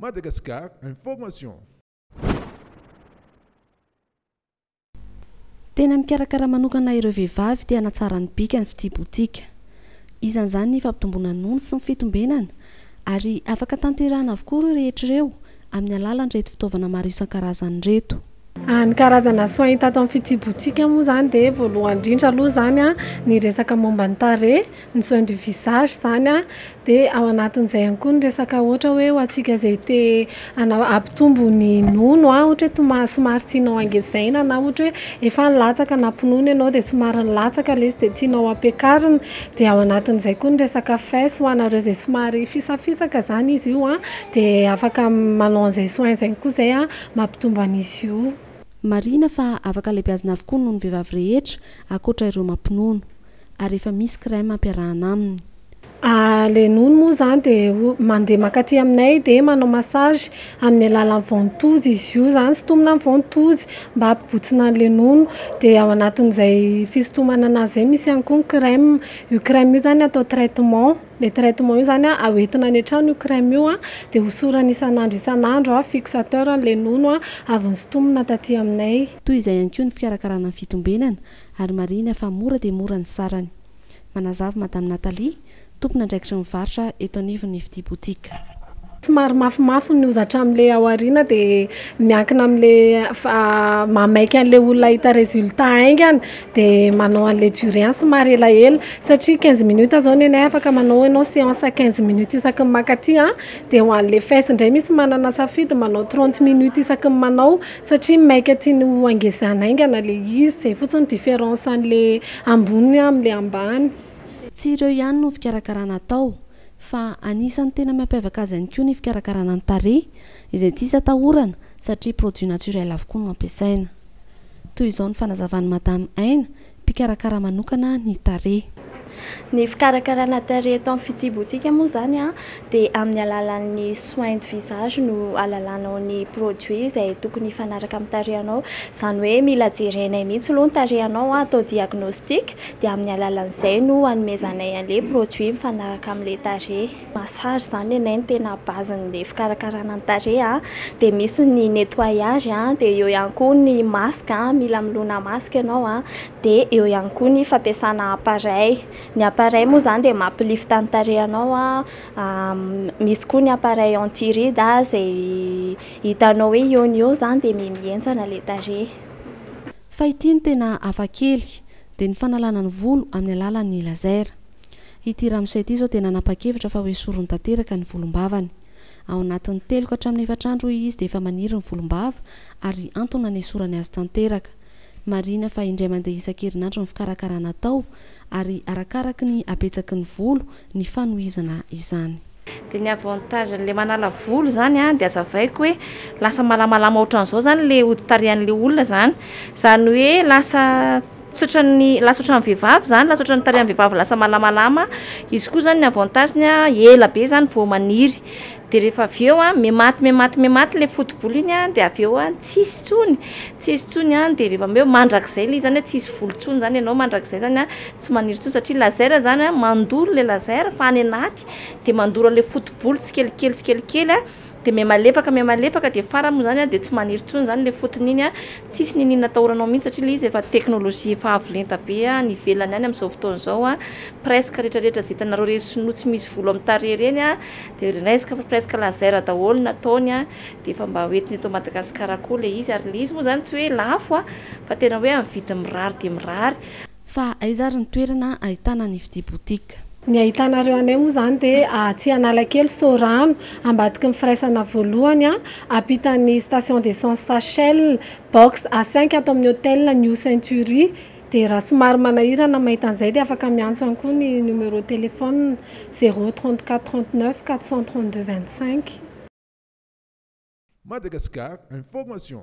Madagascar Information. Tena mikarakara manokana ireo vehivavy te hanatsara ny bika ny fitsibotsika. Isan'izany ny fampitomboana ny nony sy ny fitombenana ary afaka tanterahina avokoa ireo rehetra ireo amin'ny alalan'ireto fitaovana maro isan-karazany ireto. Ny karazana soins hita ato amin'ny fitsibotsika moa izany dia voalohany indrindra aloha izany ny resaka momba ny tarehy. ny soins du visage izany an, dia ao anatin'izay ihany koa ny resaka ohatra hoe ho antsika izay te hanao hampitombo ny nono an, ohatra hoe toma- somary tianao hangezaina na ohatra hoe efa nilatsaka nampinono ianao dia somary nilatsaka ilay izy dia tianao hampiakarina dia ao anatin'izay koa ny resaka fesse ho anareo izay somary fisafisaka izany izy io an, dia afaka manao an'izay soins izay koa izay an mampitombo an'izy io. Marihina fa afaka alebiazina avokoa ny nonon'ny vehivavy rehetra ankoatra ireo mampinono. ary efa misy crème ampiarahana aminy. Le nono moa zany de mandeha mankaty aminay de manao massage amin'ny alalan'ny ventouse izy io zany sintomina amin'ny ventouse mba hampibotsina an'le nono de ao anatin'izay fisintomana anazy zay misy ihany koa ny crème, io crème io zany atao traitement, le traitement io zany a hoentina any an-trano io crème io a de hosorana isan'andro isan'andro a fixateur an'le nono avy nosintomina taty aminay. Toy izay ihany koa ny fikarakarana ny fitombenana. ary marihina fa mora dia mora ny sarany. Manazava Madame Nathalie, tompon'andraikitry ny varotra eto anivon'ny Fitia Boutique. Somary mafimafy ny hozatra amin'ilay ao aoriana dia miankina amin'ilay mahamaika an'ilay olona hahita résultat haingana dia manao an'ilay durée any somary elaela satria quinze minutes izao ny anay afaka manao ianao séance quinze minutes isaky ny mankaty dia ho an'ilay fesy indray misy manana safidy manao trente minutes isaky ny manao Satria maika tiany ho angezana aingana le izy, zay fotsiny difference anle ambony amle ambany. Tsy ireo ihany no fikarakarana atao fa anisan'ny tena mampiavaka azy ihany koa ny fikarakarana ny tarehy izay tsisy atahorana satria produit naturel avokoa no ampiasaina. Toy izao ny fanazavan'i Madame Aina mpikarakara manokana ny tarehy. Ny fikarakarana tarehy eto amin'ny fitsibotsika moa izany dia amin'ny alalan'ny soins de visage no alalanao ny produits izay tokony hifanaraka amin'ny tarehinao. Izany hoe mila jerenay mihitsy aloha ny tarehinao, atao diagnostic dia amin'ny alalan'izay no hanomezanay an'ilay produits mifanaraka amin'ilay tarehy. massage zany anay no tena base n'le fikarakarana ny tarehy a, dia misy ny nettoyage a, dia eo ihany koa ny masque a, mila milona masque ianao a, dia eo ihany koa ny fampiasana appareil, ny appareil moa zany dia mampi lifte ny tarehinao a, misy koa ny appareil anti ride izay hitanao hoe eo no eo zany dia mihamihentsana ilay tarehy. Fa ity no tena hafa kely, dia ny fanalana ny volo amin'ny alalan'ny laser. Ity ramose ity izao dia nanapa-kevitra fa ho esoriny tanteraka ny volombavany. Ao anatin'ny telo ka hatramin'ny efatra andro hoy izy dia efa maniry ny volombava ary antony nanesorany azy tanteraka. Marihina fa indray mandeha isan-kerinandro ny fikarakarana atao ary arakaraky ny habetsaky ny volo ny fanohizana izany. Dia ny avantage an'ilay manala volo izany an, dia azavaiko hoe lasa malamalama ohatran'izao izany ilay hodi-tarehan'ilay olona izany. Izany hoe lasa tsy ohatran'ny, lasa ohatran'ny vehivavy izany, lasa ohatran'ny tarehan'ny vehivavy lasa malamalama. Izy koa izany ny avantage-ny an, ela be izany vao maniry. Dia rehefa avy eo an, mihamaty mihamaty mihamaty ilay foto-bolo iny an, dia avy eo an, tsy hisy intsony, tsy hisy intsony an. Dia rehefa avy eo, mandrakizay ilay izy izany hoe tsy hisy volo intsony izany ianao mandrakizay izany an, tsy maniry intsony satria laser izany an, mandoro ilay laser fa any anaty. mihetsika dia mandoro an'ilay foto-bolo tsikelikely tsikelikely dia mihamalefaka mihamalefaka dia farany moa izany dia tsy maniry intsony izany ilay fotony iny tsisy niniana atahoranao mihitsy satria ilay izy efa teknolojia efa avo lenta be any ivelany any amin'izao fotoana izao presque rehetra rehetra izay hitanareo ireny sinoa tsy misy volo amin'ny tarehy ireny dia resque fa presque laser daholo ny ataony dia efa mba hoentina eto Madagasikara koa ilay izy ary ilay izy moa izany tsy hoe lafo fa tena hoe amin'ny vidiny mirary dia mirary Fa aiza ary ny toerana ahitana ny fitia boutique? Ny ahitanareo anay moa izany dia atsy Analakely, Sorano, ambadiky ny firaisana voalohany, ampitan'ny station d'essence Shell, box A cinq ato amin'ny hotel New Century. Dia raha somary manahirana mahita an'izay dia afaka miantso ihany koa ny numéro téléphone zéro trente quatre trente neuf quatre cent trente deux vingt cinq. Madagascar Information.